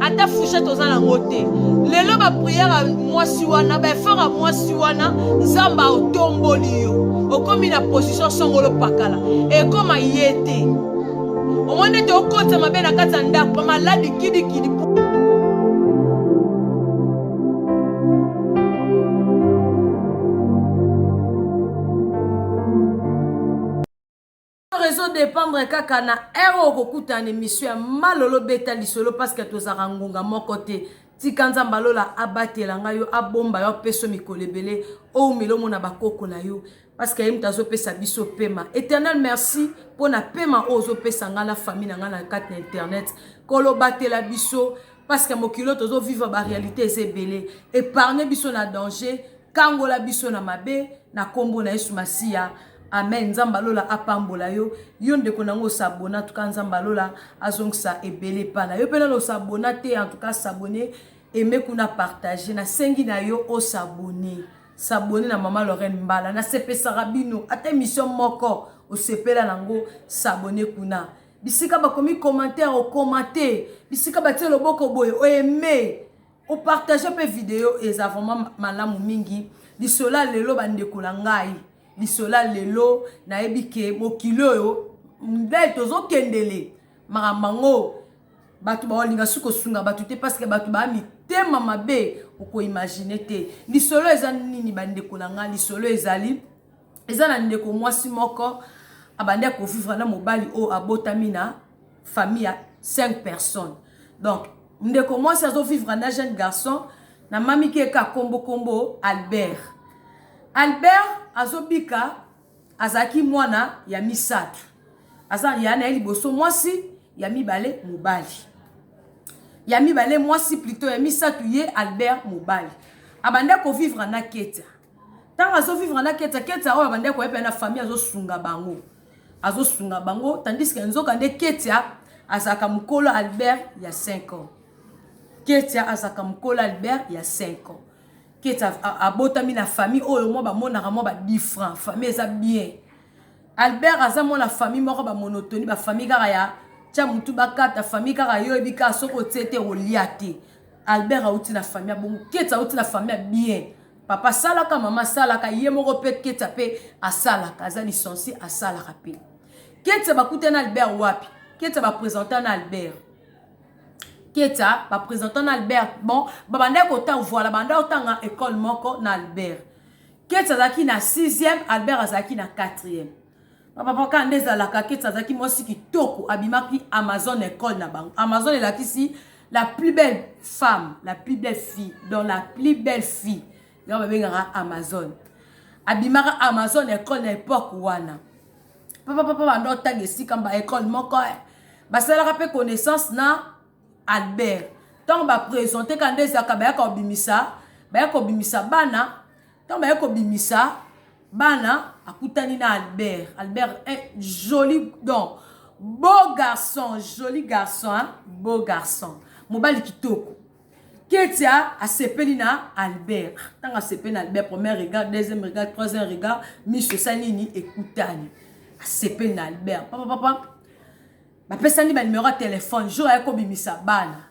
ata fouchette oza nango te lelo bapriere ya mwasi wana baefort ya mwasi wana nzambe aotomboli yo okomi na position songolo pakala ekoma ye te omoni ete okotisa mabe na kati ya ndako bamaladi kidikidi Or ezo dépendre kaka na heure oyo okokutana na emission ya malolo beta lisolo parce que tozalaka ngonga moko te tika nzambe alola abatela ngai yo abomba yo apeso mikolo ebele oumela omona bakoko na yo parce que ye moto azopesa biso pema éternel merci mpo na pema oyo ozopesa ngai na famille na ngai na kati na internet kolobatela biso parce que mokili oyo tozo vivre ba réalité eza ebele épargne biso na danger kangola biso na mabe na nkombo na yesu masiya amen nzambe alola apambola yo yo ndeko nango osabona tuka nzambe alola azongisa ebele epa na yo mpe nano osabona te en tout cas sabone aime kuna partage nasengi na yo osabone sabone na mama lorraine mbala nasepesaka bino ata émission moko osepela nango sabone kuna bisika bakomi commentaire okomante bisika batie loboko boye oeme opartage mpe video eza vraiment malamu mingi lisola lelo bandeko na ngai lisola lelo nayebi ke mokili oyo nde tozokendele makambo yango bato baolinga soki kosunga bato te parceke bato baa mitema mabe okoimagine te lisolo eza nini bandeko na ngai lisolo ezali eza na ndeko mwasi moko abandi akovivre na mobali oyo abotami na famille ya 5 personnes donc ndeko mwasi azovivre na jeune garçon na mamiki eka kombo kombo albert albert azobika azalaki mwana ya misato aza ya na ye liboso mwasi ya mibale mobali ya mibale mwasi plutôt ya misato ye albert mobali abanda kovivre na ketia Tango azo vivre na Ketsa, Ketsa oyo abandaki koya pe na famille azo sunga bango. Azo sunga bango tandis que nzoka nde Ketsa azalaka mukolo Albert ya 5 ans. Ketsa azalaka mukolo Albert ya 5 ans. Ketsa abotami na famille oyo mwa bamonaka mwa ba different, famille eza bien. Albert aza mwana famille moko ba monotonie, ba famille kaka ya tia mutu bakata famille kaka yo yebi kaka soki otie te olia te albert auti na famille ya bongo keti auti na famille ya bien Papa asalaka, mama asalaka, ye moko pe Ketsa pe asalaka, aza licencié asalaka pe. Ketsa bakutana na Albert wapi? Ketsa ba presenta na Albert. Ketsa ba presenta na Albert. Bon, babandaki kotanga voilà, banda kotanga école moko na Albert. Ketsa azalaki na 6e, Albert azalaki na 4e. papa paka nde ezalaka keti azalaki mwasi kitoko abimaki amazon ecole na bango amazon elakisi la plus belle femme la plus belle fille donc la plus belle fille yango babengaka amazon abimaka amazon ecole na epoke wana papa papa banda otanga esika ba ecole moko eh. basalaka mpe connaissance na albert ntango bapresente ka nde ezalaka bayaka kobimisa baya kobimisa bana Tango baye kobimisa bana akutani na Albert. Albert est joli donc beau garçon, joli garçon, hein? beau garçon. Mobali kitoko. Ketia asepeli na Albert. Tango asepeli na Albert, premier regard, deuxième regard, troisième regard, miso esali nini ekutani. Asepeli na Albert. Papa papa. Bapesani ba numero ya telefone jour aye kobimisa bana.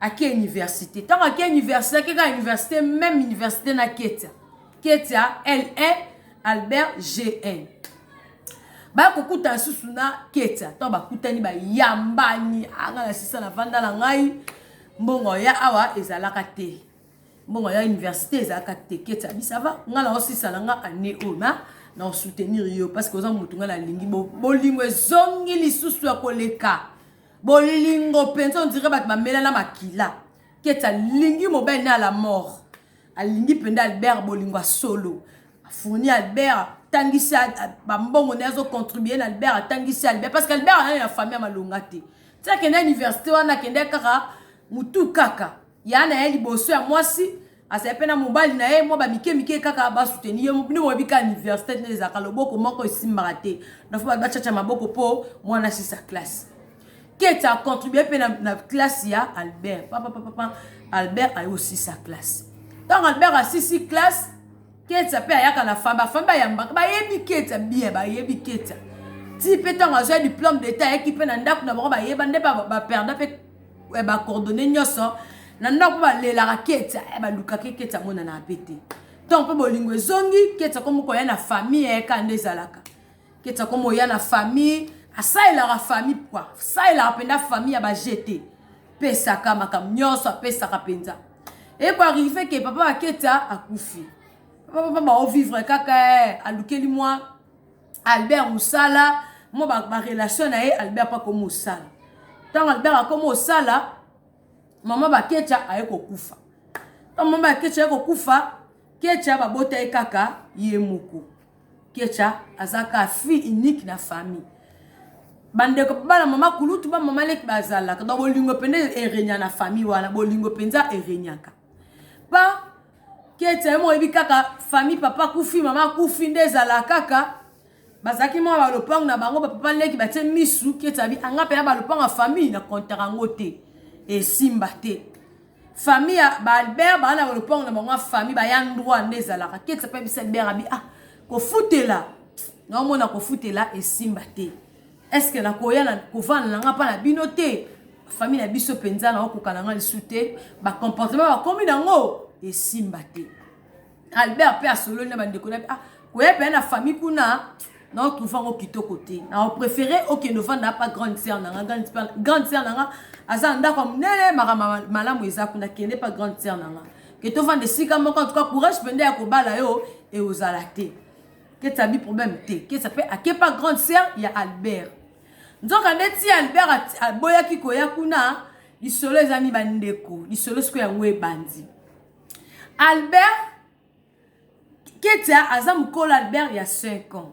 ake universite ntango ake universite ake kaka universite meme universite na ketia ketia la albert gn baya kokuta lisusu na ketia ntango bakutani bayambani anga na sisa na vanda na ngai mbongo ya awa ezalaka te mbongo ya université ezalaka te keti abi sava ngai naosisala ngai année oyo ma naosoutenir yo parce que oza motu ngai nalingi bolingo ezongi lisusu ya koleka bolingo mpenza ondire bato bamela na makila keti alingi mobali na la mort alingi mpenza albert bolingo ya solo afourni albert atangisi bambongo na ye azocontribue na albert atangisi albert parce que albert anani na famille ya malonga te ti akende université wana akende kaka motu kaka Ya na ye liboso ya mwasi azali pe na mobali na ye mwa ba mike mike kaka ba soutenir ye bino boyebi ka universite nde ezalaka loboko moko esimbaka te na faut ba chacha maboko po mwana asisa classe keti a contribuer pe na, na classe ya Albert papa papa papa Albert ayo sisa classe ntango Albert asisi classe Ketsa pe ayaka na femme ba femme bayambaka bayebi Ketsa bien bayebi Ketsa ti pe ntango azwa diplôme d'état ayaki pe na ndako na bango bayeba nde ba, ba perda pe ya ba coordonnées nyonso na ndako balelaka ketsa eh, balukaki ketsa amonana mpe te ntango mpe bolingo ezongi ketsa komo koya na famille yaka eh, nde ezalaka ketsa komo oya na famille asalelaka famille pkua asalelaka mpenza famille ya bajete pesaka makambo nyonso apesaka mpenza ekoarrive ke papa baketsa akufi papa papa baovivre kaka eh, alukeli mwa albert mosala mo barelation na ye albert mpo akomi mosala ntango albert akomi mosala mama bakecha aye kokufa ntango mama bakecha aye kokufa kecha babota ye kaka ye moko kecha aza kaka fille unique na famille bandeko bana mama kulutu ba mama leki bazalaka donc bolingo mpenza erenyaka na famille wana bolingo mpenza erenyaka pa Ketia yo moko oyebi kaka famille papa kufi mama kufi nde ezala kaka bazalaki mwa ba lopango na bango ba papa leki batie misu Ketia bi anga pena ba lopango ya famille na comptaka yango te esimba te famille ya ba Albert ba na ba lopango na bango ya famille ba ya ndwa nde ezalaka Ketia pe bisa Albert abi ah kofutela na omona kofutela esimba te est-ce que nakoya na kovanda na nga mpa na bino te famille na biso mpenza na okoka na nga lisu te bacomportement bakomi na yango esimba te albert mpe asololi na bandeko na ah, koya mpenza na famille kuna na otrouve yango kitoko te na opréféré okende ovanda mpa grande sœur na nga grande sœur na nga aza na ndako ya monene makambo malamu eza kuna kende mpa grande sœur na nga ke tovanda esika moko en tout cas courage mpenza ya kobala yo eozala te keti abi problème te keti mpe akepa grande sœur ya albert nzoka nde ti albert aboyaki koya kuna lisolo eza mi bandeko lisolo siko yango ebandi albert ketia aza mokolo albert ya 5 ans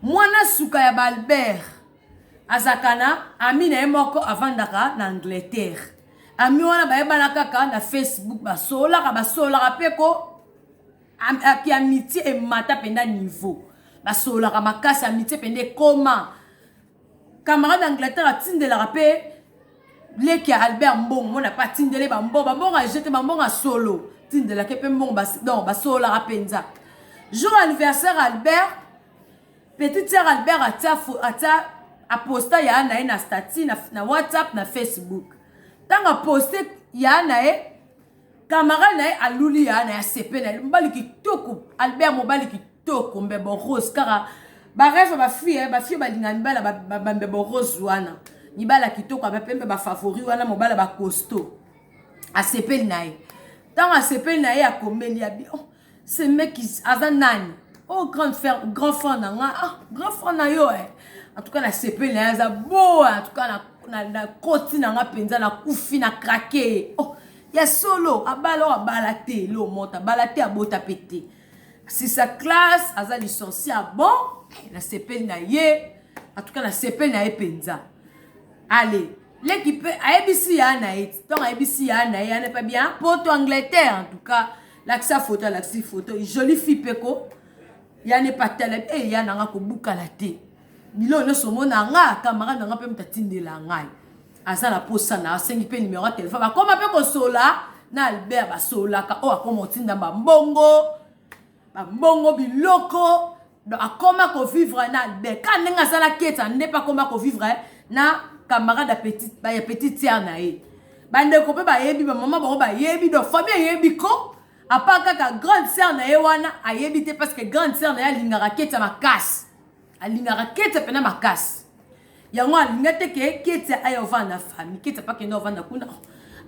mwana suka ya baalbert azalaka na ami na ye moko avandaka na angleterre ami wana bayebana kaka na facebook basololaka basololaka mpe ko Ampi amitié emata penda niveau. Basololaka makasi amitié penda ekoma. Camarade Angleterre atindelaka pe leki ya Albert Mbongo mona pa tindele ba mbongo, ba mbongo ajete ba mbongo solo. Tindelaka pe mbongo bas donc basololaka penza. Jour anniversaire Albert petit sœur Albert atia atia aposta ya na ye na statut na, na WhatsApp na Facebook. Tanga poste ya na ye Camarade na ye aluli ya na ya sepe na mobali kitoko Albert mobali kitoko mbebo rose kaka ba rêve ba fille ba fille balinga mibala ba, ba, ba mbebo rose wana mibala kitoko ba pembe ba favori wana mobala ba costaud asepeli na ye ntango asepeli na ye akomeli ya bi oh, ce mec aza nani oh grand frère grand frère na nga ah grand frère na yo eh en tout cas na sepeli na ye aza bo en tout cas na na, na koti na nga mpenza na kufi na krake oh, ya solo abala oyo abala te lo mota abala te abota mpe te sisa classe aza licencie ya bon eh, nasepeli na ye atuka nasepeli na ye mpenza ale leki mpe ayebisi ya na ye ntango ayebisi ya na ye ane mpe bia poto angleterre en tout cas lakisa foto alakisi foto jolie fille pe ko ya ne pas tele e eh, ya na nga kobukala te biloko nyonso omona nga camarade na nga mpe moto atindela ngai aza na posa na asengi mpe nimero ya telefone bakoma mpe kosola na albert basololaka oyo oh, akoma otinda bambongo bambongo biloko donc akoma ko vivre na Beckham ndenge aza na Keita nde mpe akoma ko vivre na camarade ya petit ya petite sœur na ye bandeko mpe bayebi bamama bango bayebi donc famille eyebi ko apa kaka grande sœur na ye wana ayebi te parce que grande sœur na ye alingaka Keita makasi alingaka Keita mpe na makasi yango alinga te ke Keita aye ovanda na famille Keita mpe akende ovanda kuna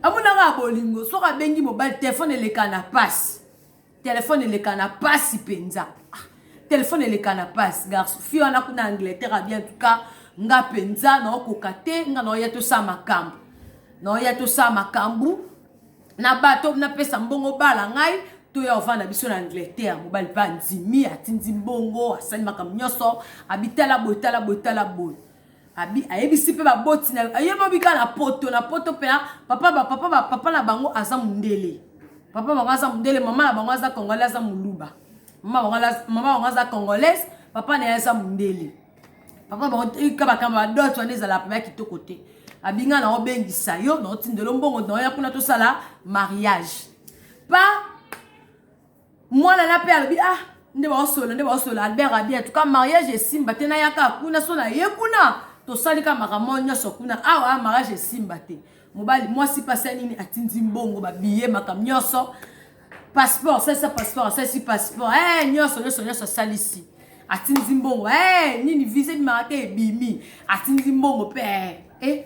amonaka ya bolingo soki abengi mobali telefone eleka na pasi Telephone eleka na pasi penza. Ah, telephone eleka na pasi garçon. Fille wana kuna Angleterre a bien tout cas nga penza na okoka te nga na oya to sa makambu. Na oya to sa makambu. Na bato na pesa mbongo bala ngai toya ovanda biso na angleterre mobali mpe andimi atindi mbongo asali makambo nyonso abitala boye tala boye tala boye Abi ayebisi pe ba boti na yo bobi ka na poto na poto pela papa ba papa ba papa na bango aza mundele papa bango aza mundele mama na bango aza congolais aza muluba mama bango aza mama bango aza congolaise papa na ye aza mundele papa bango ka ba kamba ba dot wana ezala papa kitoko te abinga na obengisa yo na otindelo mbongo na ya kuna tosala mariage pa mwana na pe alobi ah nde baosolola nde baosolola albert abi en tout cas mariage esimba te nayaka kuna so naye kuna tosali ka makambo nyonso kuna awa ah, mariage esimba te mobali mwasi mpasi ya nini atindi mbongo babiye makambo nyonso passeport asalisa passeport asalisi passeport e nyonso nyonso nyonso asalisi atindi mbongo e nini visa ebimaka te ebimi atindi mbongo mpe e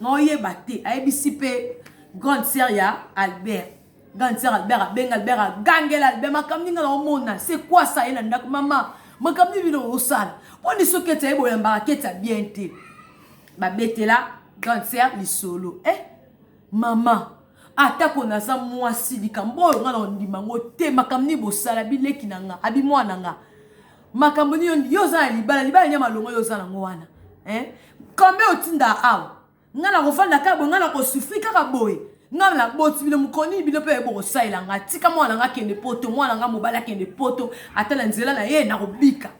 nga oyeba te ayebisi pe grande sœur ya Albert grande sœur Albert abenga Albert agangela Albert makambo ninga na omona c'est quoi ça ye na ndako mama makambo nini bino osala boni soki ete aye boyambaka keti ya bien te babetela grande sœur lisolo eh mama atako naza mwasi likambo oyo nga na ondima ngo te makambo nini bosala bileki na nga abi mwana nga makambo nini yo oza na libala libala nia malonga yo oza nango wana eh? kambe otinda awa ngai nakofanda kaka boye ngai nakosufri kaka boye ngai naboti bino mokolo nini bino mpe bokosalela ngai tika mwana ngai akende poto mwana ngai mobali akende poto ata na nzela na ye nakobika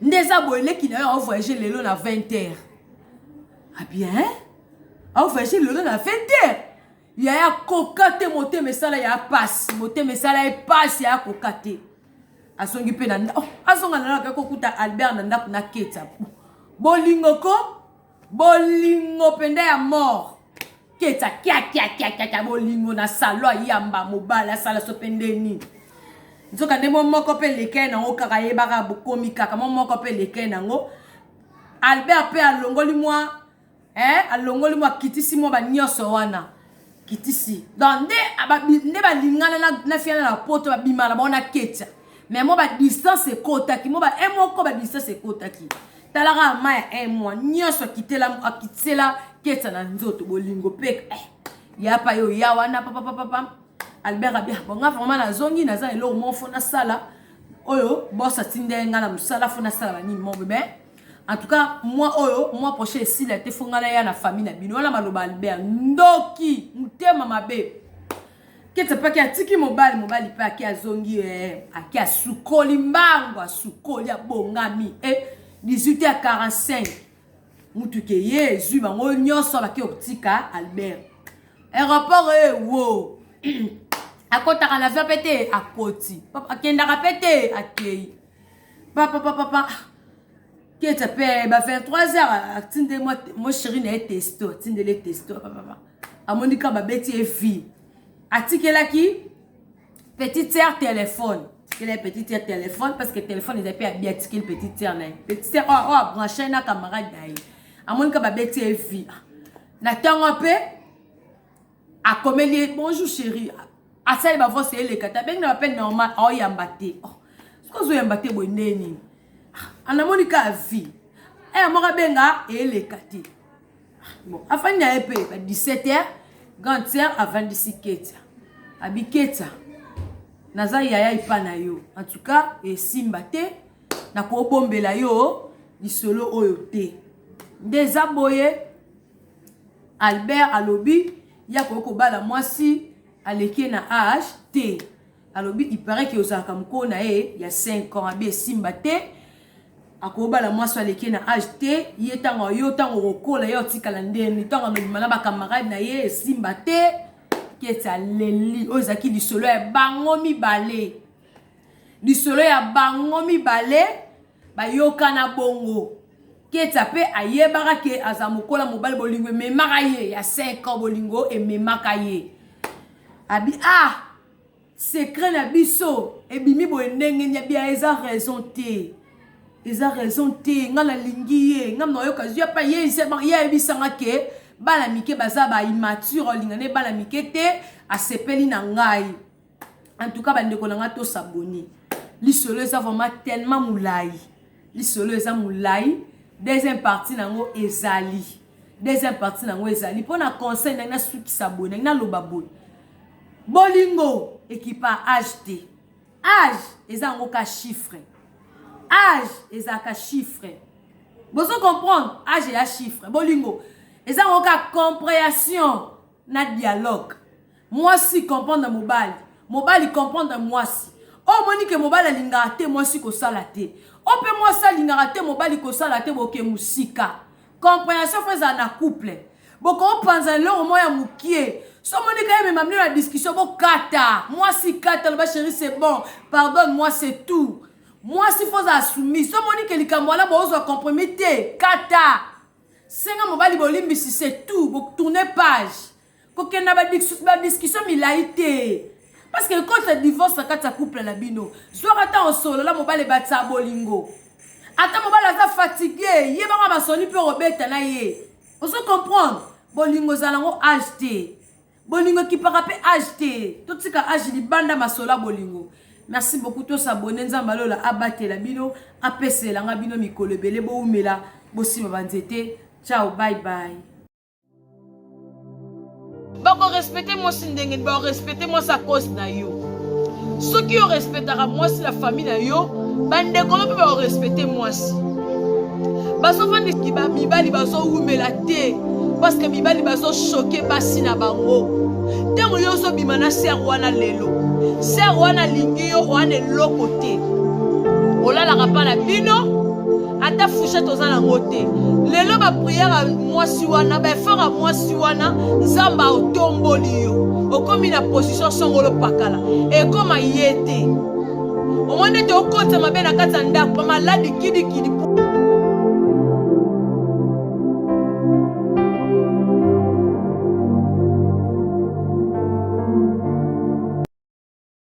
nde eza boye leki na yo aovoyage lelo na 20 heure abien ah aovoyage lelo na 20 heure yaya koka te motema esala ya pasi motema esala ye pasi yaya koka te azongi mpe na ndako oh, azonga na ndako akokuta albert na ndako na ketsa bolingo ko bolingo mpenza ya mort ketsa kiakiakiakiakia bolingo na salo ayamba mobali asala so mpe nde nini nzoka nde mo moko mpe elekei nango kaka yebaka bokomi kaka mo moko mpe elekei nango albert mpe alongoli mwa eh alongoli mwa akitisi mwa banionso wana kitisi donc nde nde balingana na, na fiana na poto babimana bango na ketia mais mwa badistance ekotaki mwa ba un moko badistance ekotaki talaka ma ya un mwa nyonso akitela akitisela ketia na nzoto bolingo mpe eh, ya pa yo ya wana papapapapa albert abia ah, bonga vraimen nazongi naza eloko moko fo nasala oyo bos atindeli ngai na mosala fo nasala banini mo bebe En tout cas moi oyo moi prochain esila te fonga na ya na famille na bino wana maloba Albert ndoki mutema mabe kete paki atiki mobali mobali pe aki azongi eh, aki asukoli mbango asukoli abongami eh, 18 ya 45 mutu ke ye ezwi bango nyonso baki kotika Albert aéroport eh, wo akotaka na avion pe te akoti akendaka pe te akei papapapapa keta mpe ba 23 heures atinde mo chéri na ye testo atindele testo papapa amoni ka babeti ye vie atikelaki petite sœur téléphone atikela ye petite sœur téléphone parce que téléphone eza mpe abi atikeli petite sœur na ye petite sœur oyo abranche na camarade na ye amoni ka babeti ye vie na ntango mpe akomeli ye bonjour chéri asali bavose eleka te abengi na bapele normal aoyamba te oh, soki ozoyamba te boye ndenge nini ah, anamoni ka vie aya eh, moko abenga eleka te ah, bon afandi na ye mpe ba 17 heures grande sœur avandisi ketia abi ketia naza yaya epa na yo en tout cas esimba te nakobombela yo lisolo oyo te nde eza boye Albert alobi ye akoki kobala mwasi aleki ye na age te alobi il parait que ozalaka mokolo na ye ya 5 ans abi esimba te akobala mwasi aleki ye na age te ye ntango yo ntango okokola ye otikala ndeni ntango alobima na bakamarade na ye esimba te keti aleli oyo ezalaki lisolo ya bango mibale lisolo ya bango mibale bayokana bongo ketia pe ayebaka ke aza mokola mobali bolingo ememaka ye ya 5 ans bolingo ememaka ye abi ah secret na biso ebimi boye ndenge nini abi ah, eza raison te eza raison te nga nalingi ye nga nayoka zwi apa ye ayebisanga ke bana mike baza ba immature olingane bana mike te asepeli na ngai en tout cas bandeko na ngai tosabone lisolo eza vraiment tellement molai lisolo eza molai deuxième partie na yango ezali deuxième partie na yango ezali mpo na conseil ndenge nasukisa boye ndenge naloba boye bolingo ekipa age te age eza yango ka chiffre age ezalaka chiffre bozo comprendre age eya chiffre bolingo eza yango ka comprehension na dialogue mwasi comprendre mobali mobali comprendre mwasi oyo omoni ke mobali alingaka te mwasi kosala te oyo mpe mwasi alingaka te mobali kosala te boke mosika comprehension fo ezala na couple bokopanza eloko moko ya mokie so omoni ka emema bino na discussion bokata mwasi kata loba sheri c'est bon pardonne moi c'est tout mwasi fo ozala soumise so omoni ke likambo wana boozwa compromis te kata Senga mobali bolimbisi c'est tout, bo tourner page. Kokende na ba discussion milayi te. Parce que ekota divorce na kati ya couple na bino. Zwaka ntango osolola mobali ebakisa bolingo. Ata mobali aza fatigue, yebaka masoni mpe okobeta na ye. Ozo comprendre? Bolingo ezala yango age te. Bolingo ekipaka pe age te. Totika age libanda masolo ya bolingo. Merci beaucoup to s'abonner nzambe ya lola abatela bino apesela nga bino mikolo ebele bowumela bosima ba nzete ciao bye bye bakorespecte mwasi ndenge nini bakorespecte mwasi akosi na yo soki yo respectaka mwasi na famille na yo bandeko no mpe baorespecte mwasi bazofandiki bamibali bazowumela te parceke mibali bazoshoke basi na bango ntango yo ozobima na ser wana lelo ser wana alingi yo wana eloko te olalaka mpa na bino ata fouchette oza nango te lelo bapriere ya mwasi wana baefort ya mwasi wana nzambe aotomboli yo okomi na position songolo pakala ekoma ye te omoni ete okotisa mabe na kati ya ndako bamaladi kidikidi